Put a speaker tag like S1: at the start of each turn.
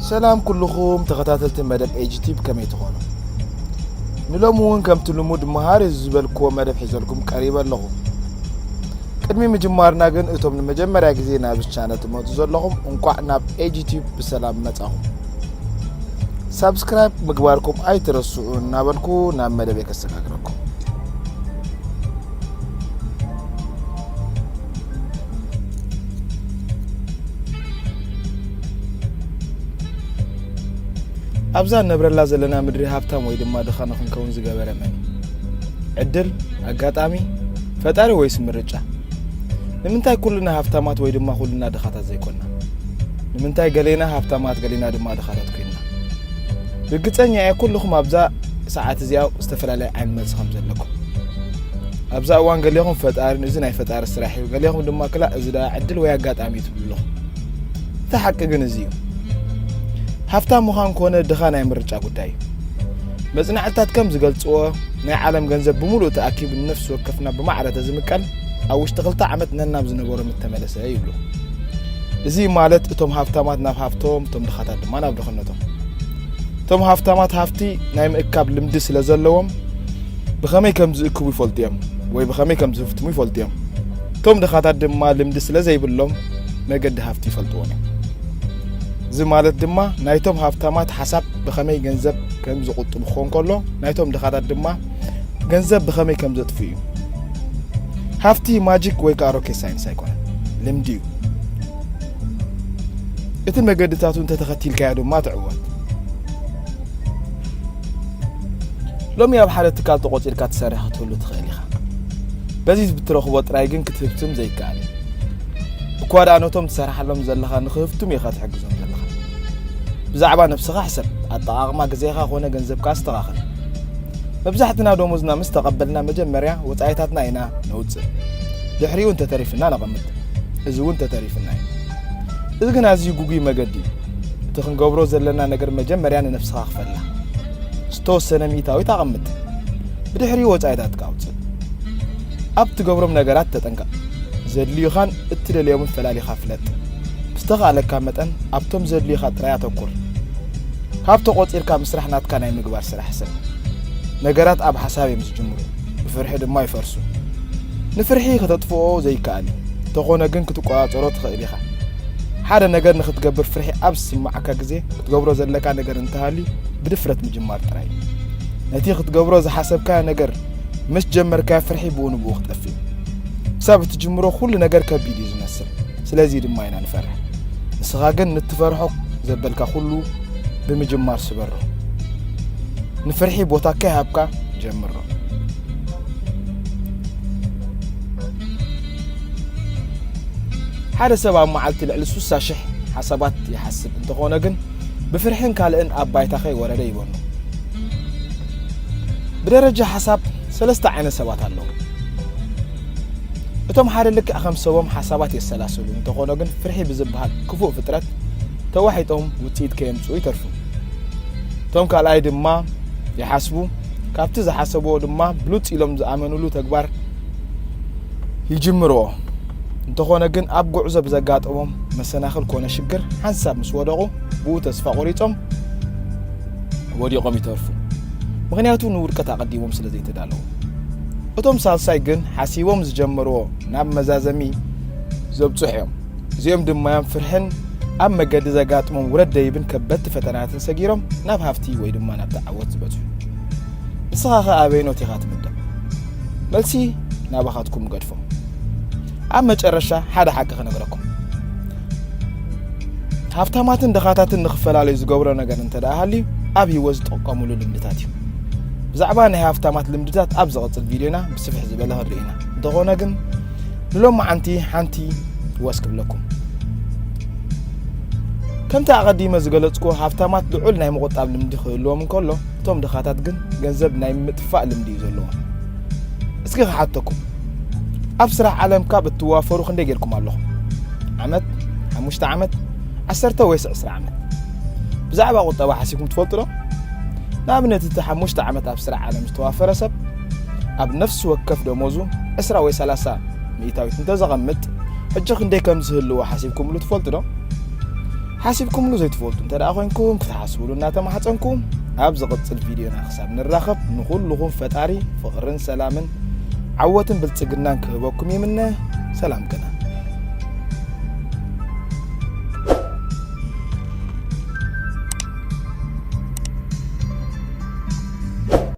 S1: ሰላም ኩልኹም ተኸታተልቲ መደብ ኤጅቲብ ከመይ ትኾኑ ንሎሚ እውን ከምቲ ልሙድ መሃሪ ዝበልክዎ መደብ ሒዘልኩም ቀሪበ ኣለኹ ቅድሚ ምጅማርና ግን እቶም ንመጀመርያ ግዜ ናብዚ ቻነል ትመፁ ዘለኹም እንቋዕ ናብ ኤጅቲብ ብሰላም መጻኹም ሳብስክራይብ ምግባርኩም ኣይትረስዑ እናበልኩ ናብ መደበይ ከሰጋግረኩም ኣብዛ እነብረላ ዘለና ምድሪ ሃብታም ወይ ድማ ድኻ ንክንከውን ዝገበረ መን ዕድል ኣጋጣሚ ፈጣሪ ወይስ ምርጫ ንምንታይ ኩልና ሃብታማት ወይ ድማ ኩልና ድኻታት ዘይኮና ንምንታይ ገሌና ሃብታማት ገሌና ድማ ድኻታት ኮይና ርግፀኛ እየ ኩልኹም ኣብዛ ሰዓት እዚኣ ዝተፈላለየ ዓይነት መልሲ ከም ዘለኩም ኣብዛ እዋን ገሌኹም ፈጣሪ እዚ ናይ ፈጣሪ ስራሕ እዩ፣ ገሌኹም ድማ ክላእ እዚ ደኣ ዕድል ወይ ኣጋጣሚ እዩ ትብሉ ኣለኹም። እቲ ሓቂ ግን እዚ እዩ። ሃፍታም ምዃን ኮነ ድኻ ናይ ምርጫ ጉዳይ እዩ መጽናዕትታት ከም ዝገልጽዎ ናይ ዓለም ገንዘብ ብምሉእ ተኣኪቡ ንነፍሲ ወከፍና ብማዕረ ተዝምቀል ኣብ ውሽጢ ክልተ ዓመት ነናብ ዝነበሮ ምተመለሰ ይብሉ እዚ ማለት እቶም ሃብታማት ናብ ሃብቶም እቶም ድኻታት ድማ ናብ ድኽነቶም እቶም ሃብታማት ሃፍቲ ናይ ምእካብ ልምዲ ስለ ዘለዎም ብኸመይ ከም ዝእክቡ ይፈልጡ እዮም ወይ ብኸመይ ከም ዝህፍትሙ ይፈልጡ እዮም እቶም ድኻታት ድማ ልምዲ ስለ ዘይብሎም መገዲ ሃፍቲ ይፈልጥዎን እዮም እዚ ማለት ድማ ናይቶም ሃብታማት ሓሳብ ብኸመይ ገንዘብ ከም ዝቁጥቡ ክኾን ከሎ ናይቶም ድኻታት ድማ ገንዘብ ብኸመይ ከም ዘጥፍ እዩ ሃፍቲ ማጂክ ወይ ከዓ ሮኬት ሳይንስ ኣይኮነ ልምዲ እዩ እቲ መገድታቱ እንተተኸቲልካዮ ድማ ትዕወት ሎሚ ኣብ ሓደ ትካል ተቖጺርካ ትሰርሕ ክትህሉ ትኽእል ኢኻ በዚ ብትረኽቦ ጥራይ ግን ክትህብትም ዘይከኣል እዩ እኳ ደኣ ነቶም ትሰርሓሎም ዘለኻ ንክህብትም ኢኻ ትሕግዞም ዘለኻ ብዛዕባ ነብስኻ ሕሰብ ኣጠቓቕማ ግዜኻ ኮነ ገንዘብካ ኣስተኻኽል መብዛሕትና ደሞዝና ምስ ተቐበልና መጀመርያ ወፃኢታትና ኢና ነውፅእ ድሕሪኡ እንተተሪፍና ነቐምጥ እዚ እውን ተተሪፍና እዩ እዚ ግን ኣዝዩ ጉጉይ መገዲ እዩ እቲ ክንገብሮ ዘለና ነገር መጀመርያ ንነፍስኻ ክፈላ ዝተወሰነ ሚእታዊት ኣቐምጥ ብድሕሪ ወፃኢታትካ ኣውፅእ ኣብ ትገብሮም ነገራት ተጠንቀቕ ዘድልዩኻን እትደልዮምን ፈላሊኻ ፍለጥ ብዝተኻእለካ መጠን ኣብቶም ዘድልዩኻ ጥራይ ኣተኩር ካብ ተቖፂርካ ምስራሕ ናትካ ናይ ምግባር ስራሕ ሰብ ነገራት ኣብ ሓሳብ እዮም ዝጅምሩ ብፍርሒ ድማ ይፈርሱ። ንፍርሒ ከተጥፍኦ ዘይከኣል እዩ፣ እንተኾነ ግን ክትቆጻጸሮ ትኽእል ኢኻ። ሓደ ነገር ንኽትገብር ፍርሒ ኣብ ዝስምዓካ ግዜ ክትገብሮ ዘለካ ነገር እንተሃልዩ ብድፍረት ምጅማር ጥራይ እዩ። ነቲ ክትገብሮ ዝሓሰብካዮ ነገር ምስ ጀመርካዮ ፍርሒ ብኡ ንብኡ ክጠፍእ እዩ። ክሳብ እትጅምሮ ኩሉ ነገር ከቢድ እዩ ዝመስል፣ ስለዚ ድማ ኢና ንፈርሕ። ንስኻ ግን ንትፈርሖ ዘበልካ ኩሉ ብምጅማር ስበሮ። ንፍርሒ ቦታ ከይሃብካ ጀምሮ። ሓደ ሰብ ኣብ መዓልቲ ልዕሊ ሱሳ ሽሕ ሓሳባት ይሓስብ እንተኾነ ግን ብፍርሕን ካልእን ኣብ ባይታ ከይወረደ ይበኑ። ብደረጃ ሓሳብ ሰለስተ ዓይነት ሰባት ኣለዉ። እቶም ሓደ ልክዕ ከም ሰቦም ሓሳባት የሰላስሉ እንተኾነ ግን ፍርሒ ብዝበሃል ክፉእ ፍጥረት ተዋሒጦም ውፅኢት ከየምፅኡ ይተርፉ። እቶም ካልኣይ ድማ ይሓስቡ ካብቲ ዝሓሰብዎ ድማ ብሉፅ ኢሎም ዝኣመንሉ ተግባር ይጅምርዎ። እንተኾነ ግን ኣብ ጉዕዞ ብዘጋጠሞም መሰናኽል ኮነ ሽግር ሓንሳብ ምስ ወደቑ ብኡ ተስፋ ቆሪፆም ወዲቖም ይተርፉ። ምክንያቱ ንውድቀት ኣቐዲሞም ስለ ዘይተዳለዉ። እቶም ሳልሳይ ግን ሓሲቦም ዝጀመርዎ ናብ መዛዘሚ ዘብፅሑ እዮም። እዚኦም ድማዮም ፍርሕን ኣብ መገዲ ዘጋጥሞም ውረድ ደይብን ከበድቲ ፈተናትን ሰጊሮም ናብ ሃፍቲ ወይ ድማ ናብ ተዓወት ዝበፅሑ ንስኻ ኸ ኣበይኖት ኢኻ ትምደብ መልሲ ናባኻትኩም ገድፎ ኣብ መጨረሻ ሓደ ሓቂ ክነግረኩም ሃብታማትን ድኻታትን ንክፈላለዩ ዝገብሮ ነገር እንተ ሃልዩ ኣብ ህይወት ዝጠቀሙሉ ልምድታት እዩ ብዛዕባ ናይ ሃብታማት ልምድታት ኣብ ዝቐፅል ቪድዮና ብስፍሕ ዝበለ ክንርኢ ኢና እንተኾነ ግን ንሎማዓንቲ ሓንቲ ወስ ክብለኩም ከምቲ ኣቐዲመ ዝገለጽኩ ሃብታማት ልዑል ናይ ምቑጣብ ልምዲ ክህልዎም እንከሎ እቶም ድኻታት ግን ገንዘብ ናይ ምጥፋእ ልምዲ እዩ ዘለዎም እስኪ ክሓተኩም ኣብ ስራሕ ዓለም ካብ እትዋፈሩ ክንደይ ጌርኩም ኣለኹም ዓመት ሓሙሽተ ዓመት ዓሰርተ ወይስ ዕስራ ዓመት ብዛዕባ ቁጠባ ሓሲብኩም ትፈልጡ ዶ ንኣብነት እቲ ሓሙሽተ ዓመት ኣብ ስራሕ ዓለም ዝተዋፈረ ሰብ ኣብ ነፍሲ ወከፍ ደሞዙ ዕስራ ወይ ሰላሳ ሚእታዊት እንተዘቐምጥ ሕጂ ክንደይ ከም ዝህልዎ ሓሲብኩምሉ ትፈልጡ ዶ? ሓሲብኩምሉ ዘይትፈልጡ እንተ ደኣ ኮይንኩም ክትሓስብሉ እናተማሕፀንኩ ኣብ ዝቕፅል ቪድዮና ክሳብ ንራኸብ ንኹልኹም ፈጣሪ ፍቕርን ሰላምን ዓወትን ብልፅግናን ክህበኩም ይምነ ሰላም ቅነ